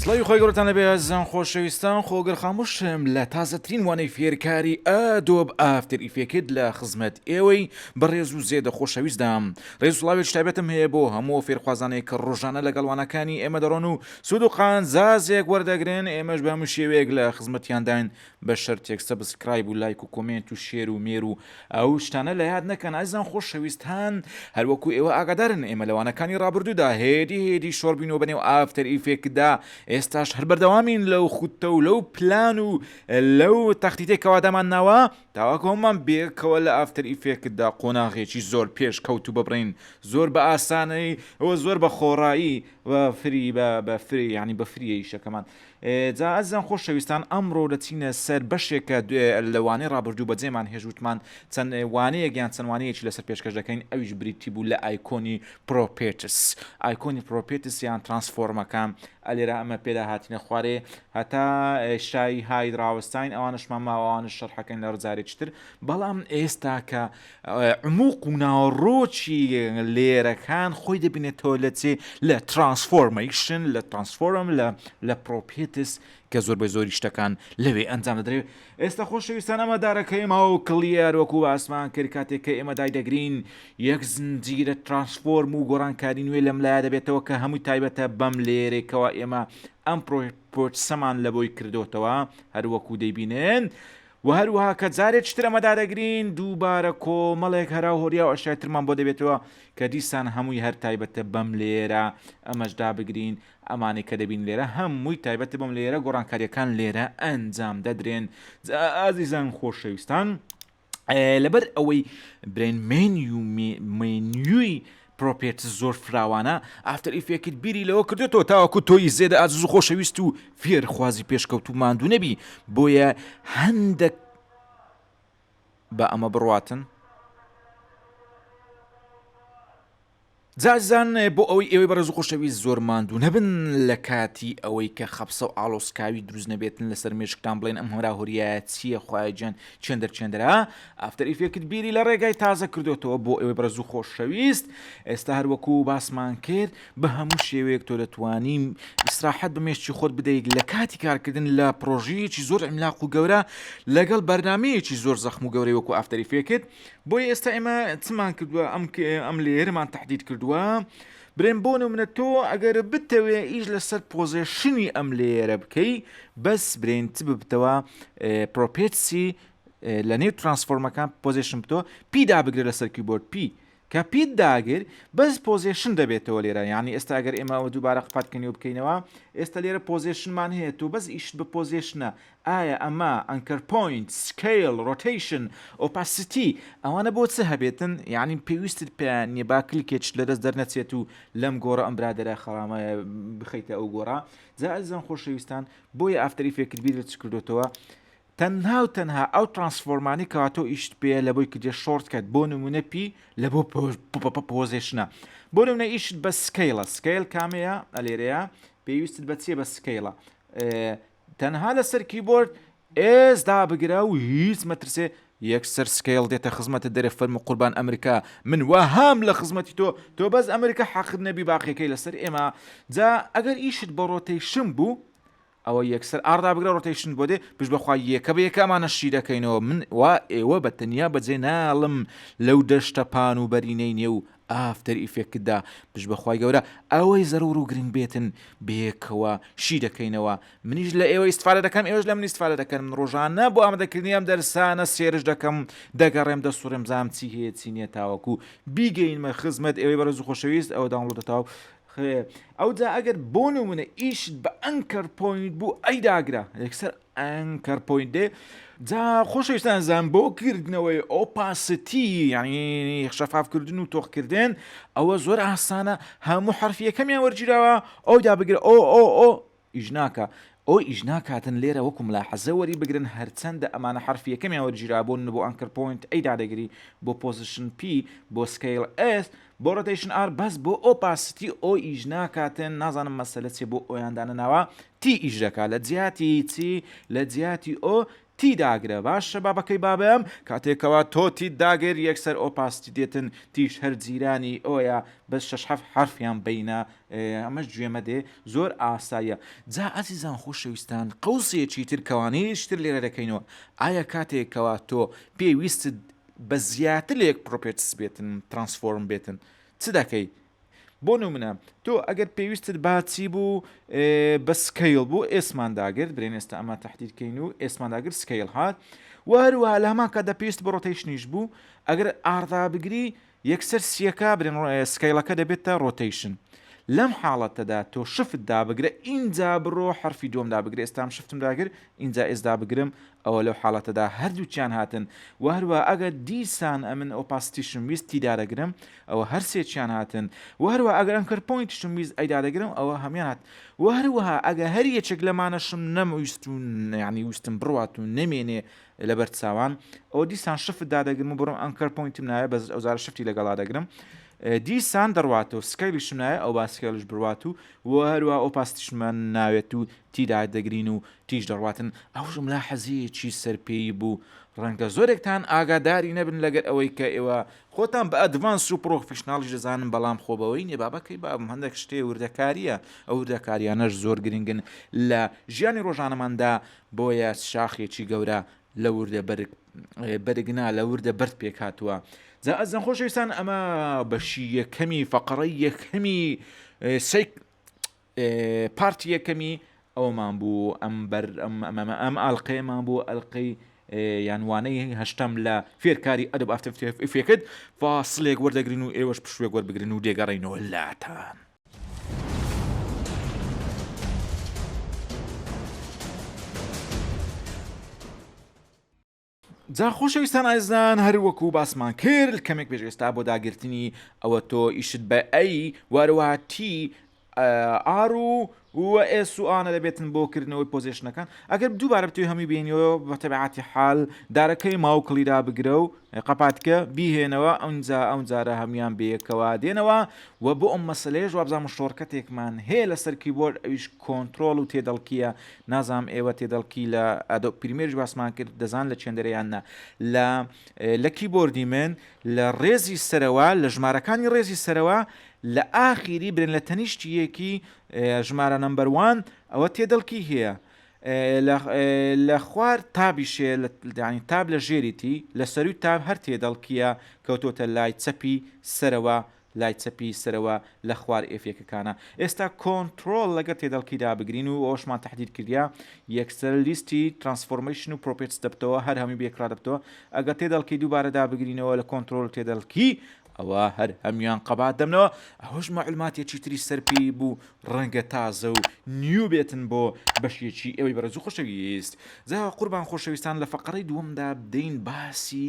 سڵی خۆی گەورتان لەبێ زان خۆشەویستان خۆگەر خاموشم لە تازەترین وانەی فێرکاری ئەدۆب ئافتر ئیفێکت لە خزمەت ئێوەی بەڕێز و زێدە خۆشەویستدام ڕێز و سڵاوێکی تایبەتم هەیە بۆ هەموو ئەو فێرخوازانەی کە ڕۆژانە لەگەڵ وانەکانی ئێمە دەڕۆن و سوود و قازانجێک وەردەگرن، ئێمەش بە هەموو شێوەیەک لە خزمەتیانداین بە شەرتێک سەبسکرایب و لایک و کۆمێنت و شێر و مێر و ئەو شتانە لە یاد نەکەن ئازیزان خۆشەویستان هەر وەکو ئێوە ئاگادارن ئێمە لە وانەکانی ڕابردوودا هێدی هێدی شۆڕ بووینەوە بەنێو ئافتەر ئیفێکتدا ئێستاش هەر بەردەوامین لەو خوتە و لەو پلان و لەو تەختیتەی کە وادامانناوە داواکەومان بەیەکەوە لە ئافتەر ئیفێکتدا قۆناغێکی زۆر پێش کەوتوو ببڕین زۆر بە ئاسانەی و زۆر بە خۆڕایی و فری بە بە فری یانی بە فریە ئیشەکەمان جا ئەزان خۆشەویستان ئەمڕۆ دەچینە سەر بەشێکە لە وانەی ڕابردوو بەجێمان هێژوتمان چەند وانەیەک یان چەند وانەیەکی لەسەر پێشکەش دەکەین ئەویش بریتی بوو لە ئایکۆنی پرۆپێتس ئایکۆنی پرۆپێتس یان ترانسفۆرمەکان ئەلێرا ئەمە پێدا هاتینە خوارێ هەتا شای هاید ڕاوەستاین ئەوانەشمان ماوە ئەوانەش شەرحەکەن لە ڕجارێکی تر بەڵام ئێستا کە عموق و ناوەڕۆکی لێرەکان خۆی دەبینێتەوە لە چێ لە ترانسفۆرمەیشن لە ترانسفۆرم لە لە پرۆپێتس کە زۆر بە زۆری شتەکان لەوێ ئەنجام دەدرێت ئێستە خۆشەویستان ئەمە دارەکەیمە و کڵیار وەکو باسمان کرد کاتێک کە ئێمە دایدەگرین یەک زنجیرە ترانسفۆرم و گۆڕانکاری نوێ لەم لایە دەبێتەوە کە هەمووی تایبەتە بەم لێرێکەوە ئێمە ئەم پرۆسەمان لە بۆی کردۆتەوە هەر وەکو دەیبینن و هەروەها کە جارێک تر ئەمە دادەگرین دووبارە کۆمەڵێک هەرا و هۆریا و ئەشای ترمان بۆ دەبێتەوە کە دیسان هەمووی هەر تایبەتە بەم لێرە ئەمەش دابگرین ئەمانەی کە دەبین لێرە هە مووی تایبەتە بۆم لێرە گۆڕانکاریە کان لێرە ئە نجام دە درێن جا ئازیزان خۆشە ویستان لە بەر ئەوەی برێن مێنیوی پرۆپێت زۆر فراوانە ئافتەر ئیفێکت بیری لەوە کردێتەوە تاوەکو تۆی زێدە ئازز و خۆشەویست و فێرخوازی پێشکەوت و ماندوو نەبی بۆیە هەندێک بە ئەمە بڕاتن جاجزان بۆ ئەوەی ئێوەی بەڕێز و خۆشەویست زۆر ماندوو نەبن لە کاتی ئەوەی کە خەپسە و ئاڵۆسکاوی دروست نەبێتن لەسەر مێشکتان بڵێن ئەم هۆرا هۆریایە چییە خوایە جیان چێندەر چێندەرە ئافتەر ئیفێکت بیری لە ڕێگای تازە کردۆتەوە بۆ ئێوەی بەڕێز و خۆشەویست ئێستا هەروەکو باسمان کرد بە هەموو شێوەیەک تۆ دەتوانی ئیسراحەت بە مێشکی خۆت بدەیت لە کاتی کارکردن لە پرۆژەیەکی زۆر عملاق و گەورە لەگەڵ بەرنمەیەکی زۆر زەخم و گەورەی وەکو ئافتەر ئیفێکت بۆیە ئێستا ئێمە چمان کردووە ئەم ئەم لێرەمان تهدید کردووە برێن بۆ نمونە تۆ ئەگەر بتەوێ ئیش لەسەر پۆزیشنی ئەم لێرە بکەی بەس برێن چ ببتەوە پرۆپێتسی لە نێو ترانسفۆرمەکان پۆزیشن بتۆ پیدا بگرە لەسەر کیبۆرد پی کە پیت داگر بەس پۆزیشن دەبێتەوە لێرە یعنی ئێستا گەر ئێمەەوە دووبارە قپاتکەنی و بکەینەوە ئێستا لێرە پۆزیشنمان هەیە تۆ بەس ئیشت بە پۆزیشنە ئایا ئەمە، ئەنکەر پۆینت، سکەیڵ، ڕۆتەیشن، ئۆپاسیتی، ئەوانە بۆ چ هەبێتن؟ یەعنی پێویستت پێیان نیە با کلکێ چ لەدەست دەرنەچێت و لەم گۆڕە ئەم برادەرە خەرامەیە بخەیتە ئەو گۆڕە؟ جا ئەزیزان خۆشەویستان بۆیە ئافتەر ئیفێکت بیرت چ کردۆتەوە تەنها و تەنها ئەو ترانسفۆرمانەی کەوا تۆ ئیشت پێیە لە بۆی کردیە شۆرت کەت بۆ نمونە پی لە بۆ پۆزێشنە بۆ نمونە ئیشت بە سکەیڵە سکەیڵ کامەیە ئەلێرەیە پێویستت بە چیە بە سکەیڵە تەنها لەسەر کیبۆرد S دابگرە و هیچ مەترسێ یەکسەر سکەیڵ دێتە خزمەتت دەرێ فەرموو قوربان ئەمریکا من وەهام لە خزمەتی تۆ تۆ بەس ئەمریکا حەقت نەبی باقیەکەی لەسەر ئێمە جا ئەگەر ئیشت بە ڕۆتەیشن بوو ئەوە یەکسەر ئاڕ دابگرە ڕۆتەیشنت بۆ دێ پشت بەخوا یەکە بە یەکە ئەمانە شی دەکەینەوە من وا ئێوە بە تەنیا بەجێ ناڵم لەو دەشتە پان و بەرینەی نێو ئافتەر ئیفێکتدا پشت بە خوای گەورە ئەوەی زەرور و گرنگ بێتن بەیەکەوە شی دەکەینەوە منیش لە ئێوە ئیستفادە دەکەم ئێوەش لە من ئیستفادە دەکەن من ڕۆژانە بۆ ئامادەکردنی ئەم دەرسانە سێرچ دەکەم دەگەڕێم دەسوڕێم بزانم چی هەیە چی نییە تاوەکو بیگەینمە خزمەت ئێوەی بەڕێز و خۆشەویست ئەوە داونڵۆدە تاو ئەوجا ئەگەر بۆ نمونە ئیشت بە ئەنکەر پۆینت بوو ئەی داگرە یەکسەر ئەنکەر پۆینت دێ جا خۆشەویستان زان بۆ کردنەوەی ئۆپاستی یعنی شەفافکردن و تۆخکردن ئەوە زۆر ئاسانە هەموو حرفیەکەمیان وەرگیراوە ئەو دابگرە ئۆ ئۆ ئۆ ئیژناکە ئۆ ئیژناکاتن لێرە وەکو ملا حەزە وەری بگرن هەرچەندە ئەمانە حرفیەکەمیان وەرگیرابوون بۆ ئەنکەر پۆینت ئەی دادەگری بۆ پۆزیشن پی بۆ سکیل ئێس بۆ ڕۆتەیشن ئار بەس بۆ ئۆ پاستی ئۆ ئیش ناکاتن نازانم مەسەلە چیە بۆ ئۆیان دانەناوە تی ئیش دەکا لە جیاتی چی لە جیاتی ئۆ تی داگرە باشە با بەکەی با بەم کاتێ کەوا تۆ تیت داگر یەکسەر ئۆ پاستی دێتن تیش هەر جیرانی ئۆیە بەس شەش حەفت حەرفیان بەینە ئەمەش گوێ مەدێ زۆر ئاساییە جا ئەزیزان خۆشەویستان قەوسێکی تر کەوانەیەکی تر لێرە دەکەینەوە ئایا کاتێ کەوا تۆ پێ ویستت بە زیاتر لە یەک پرۆپێرتس بێتن ترانسفۆرم بێتن چ دەکەی بۆ نمونە تۆ ئەگەر پێویستت باچی بوو بە سکەیل بوو ئێسمان داگرت برێن ئێستا ئەمە تهدیرکەین و ئێسمان داگرت سکەیل هات وهروە لە هەمان کە دەپێست بە ڕۆتەیشنیش بوو ئەگەر ئاردا بگری یەکسەر سیەکە برێن سکەیلەکە دەبێتە ڕۆتەیشن لەم حاڵەتەدا تۆ شفت دابگرە ئینجا بڕۆ حرفی دوم دابگرێ ئێستام شفتم داگر ئینجا ئێسدا بگرم ئەوە لەو حاڵەتەدا هەردووکیان هاتن، وە هەروەها ئەگەر دیسان ئەمن ئۆپاسیتیشم ویست تی دادەگرم ئەوە هەر سێکیان هاتن، وە هەروەها ئەگەر ئەنکەر پۆینتیشم ویست ئەی دادەگرم ئەوە هەموویان هاتن، وە هەروەها ئەگەر هەر یەکێک لەمانەشم نەمویست و یەعنی ویستم بڕوات و نەمێنێ لەبەر چاوان ئەوە دیسان شفت دادەگرم و بڕۆم ئەنکەر پۆینتم ناوێ بەس ئەوجارە شفتی لەگەڵا دەگرم دیسان دەڕواتەوە سکەیڵیشم ناوێ ئەوە سکەیڵیش بڕوات و وە هەروەها ئۆپاسیتیشمان ناوێت و تیدا دەگرین و تیژ دەڕواتن ئەو جوملە حەزیەکی سەر پێیی بوو ڕەنگە زۆرێکتان ئاگاداری نەبن لەگەر ئەوەی کە ئێوە خۆتان بە ئەدڤانس و پڕۆفیشناڵیش دەزانن بەڵام خۆ بەوەی نیە با بەکەی بابم هەندێک شتێ وردەکاریە ئەو وردەکاریانەش زۆر گرنگن لە ژیانی ڕۆژانەماندا بۆیە شاخێکی گەورە لە وردە بەرگ بەرگنا لە وردە بەرد پێک هاتووە جا ئەزن خۆشەویستان ئەمە بەشی یەکەمی فەقڕەی یەکەمی سیک پارتی یەکەمی ئەوەمان بوو ئەم بەر ئەم ئاڵلقەیەمان بۆ ئەلقەی یانوانەی هەشتم لە فێرکاری ئەدب ئافتفێکت فاسلێک وەردەگرن و ئێوەش پشوێک وەربگرن و دێگەڕینەوە لاتان. جا خۆشەویستان ئازیزان هەر وەکو باسمان کرد کەمێک پێش ئێستا بۆ داگرتنی ئەوە تۆ ئیشت بە ئەی وارەوە تی ئار و و ئێس و ئانە دەبێتن بۆ کردنەوەی پۆزیشنەکان ئەگەر دووبارە بتوی هەمووی بینیەوە بە تەبعاتی حال دارەکەی ماوکڵی دا بگرە و قەپاتکە بیهێنەوە ئەوجا ئەو جارە هەموان بەیەکەوە دێنەوە و بۆ ئەم مەسلەیەش وابزانم شۆڕکەتێکمان هەیە لەسەر کیبۆرد ئەویش کۆنتترۆل و تێدەڵکیە نازانم ئێوە تێدەڵکی لە ئەدۆب پریمێرش باسمان کرد دەزان لە چێندەرە یان نا لە لە کیبۆردی من لە ڕێزی سەرەوە لە ژمارەکانی ڕێزی سەرەوە لە ئاخیری برێن لە تەنیشتی یەکی ژمارە نمبەروان ئەوە تێدەڵکی هەیە لە خوار تابیشێ لەدانی تاب لە ژێریتی لە سەروی تاب هەر تێدەڵکیە کەوتۆتە لای چەپی سەرەوە لای چەپی سەرەوە لە خوار ئێفێکەکانە ئێستا کۆنتڕۆڵ لەگەر تێدەڵکی دابگرین و ئەوەشمان تەحدید کردیە یەکسەر لیستی ترانسفۆرمەیشن و پرۆپێتس دەبتەوە هەر هەمووی بەیەکڕا دەبتەوە ئەگەر تێدەڵکی دووبارە دابگرینەوە لە کۆنتڕۆڵ تێدەڵکی ئەوا هەر هەموویان قەبات دەبنەوە ئەوەش مەعلوماتێکی تری سەر پێی بوو ڕەنگە تازە و نیو بێتن بۆ بەشێکی ئێوەی بەڕێز و خۆشەویست جا قوربان خۆشەویستان لە فەقەرەی دووەمدا بدەین باسی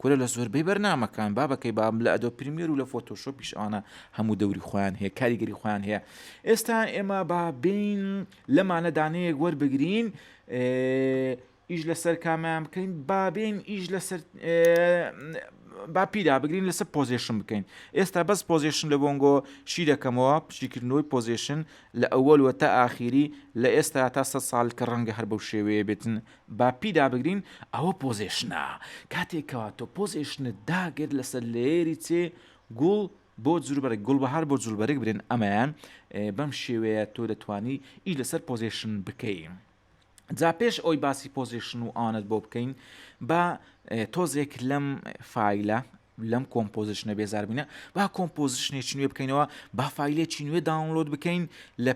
کورە لە زۆربەی بەرنامەکان بابە کەی بابم لە ئەدۆ پریمیەر و لە فۆتۆشۆپیش ئەوانە هەموو دەوری خۆیان هەیە کاریگەری خۆیان هەیە ئێستا ئێمە با بین لەمانە دانەیەک وەربگرین ئیش لەسەر کامیان بکەین بابین ئیش لەسەر با پیدا بگرین لەسەر پۆزیشن بکەین ئێستا بەس پۆزیشن لە بۆنگۆ شی دەکەمەوە پشتیکردنەوەی پۆزیشن لە ئەوەلوە تا ئاخیری لە ئێستا تا سە ساڵ کە ڕەنگە هەر بەو شێوەیە بێتن با پیدا بگرین ئەوە پۆزێشنە کاتێک کەوا تۆ پۆزێشنت داگرت لەسەر لێری چێ گوڵ بۆ جوربەرگ گوڵبەهار بۆ جولبەرگ برێن ئەمەیان بەم شێوەیە تۆ دەتانی ئی لەسەر پۆزیشن بکەی. جا پێش ئەوی باسی پۆزیشن و ئانت بۆ بکەین با تۆزێک لەم فیلە لەم کۆمپۆزیشنە بێزاربینە با کۆمپۆزیشنێکی نوێ بکەینەوە با فیلێکی نوێ داونلۆد بکەین لە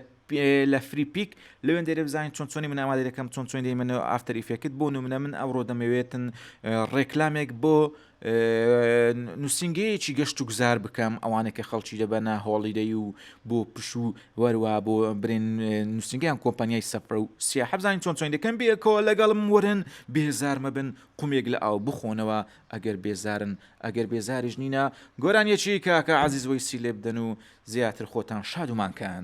لە فری پیک لەوێن دەێ بزانین چۆن چۆنی من ئامادە دەکەم چۆن چۆن دەیمەەوە ئافتەر ئیفێکت بۆ نمونە من ئەوڕۆ دەمەوێتن ڕێکلامێک بۆ نووسنگەیەکی گەشت و گوزار بکەم ئەوانێک کە خەڵکی دەبەنە هۆڵیدەی و بۆ پش و وەروا بۆ برێن نووسنگیان کۆمپانیای سەفرە و سیاحەبزانین چۆن چۆن دەکەم بێکەوە لەگەڵم ورن بێزارمە بن قومێک لە ئاو بخۆنەوە ئەگەر بێزارن ئەگەر بێزاریش نینە گۆرانیەکی کاکە عەزیز وەیسی لێبدەن و زیاتر خۆتان شاد و مانکان